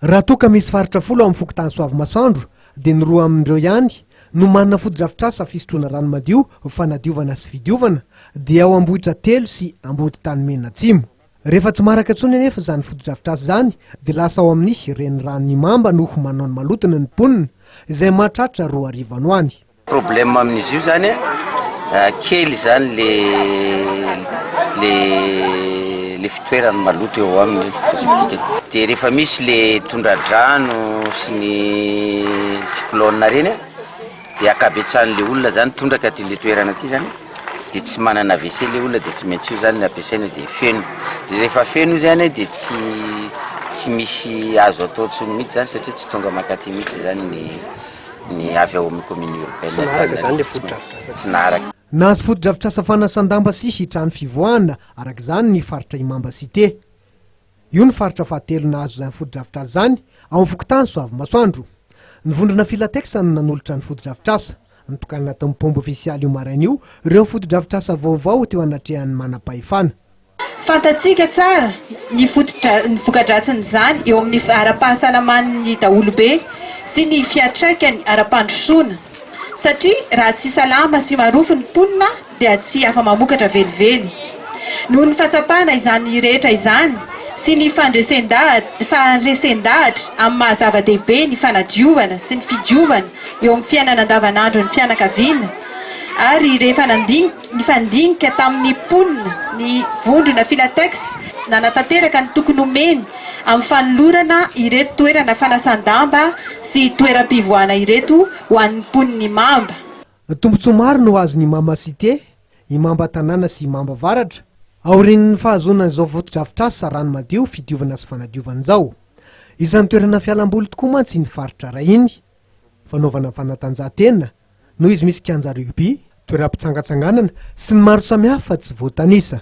Raha toa ka misy faritra folo ao amin'ny fokontany Soavimasoandro dia ny roa amin'ireo ihany no manana fotodrafitrasa fisotroana rano madio fanadiovana sy fidiovana dia ao Ambohitratelo sy Amboditanimen Atsimo. Rehefa tsy maraka intsony anefa izany fotodrafitrasa izany dia lasa ao amin'ny Reniranon'Imamba no manao ny malotony ny mponina izay mahatratra roa arivo ano any. Problème amin'izy io zany a, kely zany le le le fitoerany maloto eo aminy fosiptikany. Dia rehefa misy le tondradrano sy ny cyclone ireny a, dia ankabetsahan'le olona zany tondraka aty le toerana aty zany, dia tsy manana wc le olona dia tsy maintsy io zany no ampiasaina dia feno. Dia rehefa feno io zany a dia tsy tsy misy azo atao intsony mihitsy zany satria tsy tonga mankaty mihitsy zany ny. ny avy ao amin'ny commune urbaine Antananarivo tsy naharaka. Nahazo fotodrafitrasa fanasan-damba sy trano fivoahana araka izany ny faritra Imamba Cité. Io no faritra fahatelo nahazo izany fotodrafitrasa izany ao amin'ny fokontany Soavimasoandro. Ny vondrona Filatex no nanolotra ny fotodrafitrasa. Nitokanana tao amin'ny paomba ofisialy io maraina io ireo fotodrafitrasa vaovao teo anatrehan'ny manampahefana. Fantatsika tsara ny fotodra ny voka-dratsin'izany eo amin'ny ara-pahasalaman'ny daholobe sy ny fiantraikany ara-pandrosoana satria raha tsy salama sy marofo ny mponina dia tsy afa-mamokatra velively. Noho ny fahatsapana izany rehetra izany sy ny fandresen-dahatra faharesen-dahatra amin'ny maha-zava-dehibe ny fanadiovana sy ny fidiovana eo amin'ny fiainana andavanandron'ny fianakaviana ary rehefa nandinika Nifandinika tamin'ny mponina ny vondrona Filatex nanatanteraka ny tokony homeny amin'ny fanolorana ireto toerana fanasan-damba sy toeram-pivoahana ireto ho an'ny mponin'i Imamba. Tombontsoa maro no azon'i Imamba Cité, Imamba Tanàna sy Imamba Avaratra, aorian'ny fahazoana izao fotodrafitrasa rano madio fidiovana sy fanadiovana izao. Isan'ny toerana fialamboly tokoa mantsy iny faritra iray iny, fanaovana fanatanjahantena, noho izy misy kianja rugby, toeram-pitsangatsanganana sy ny maro samihafa tsy voatanisa.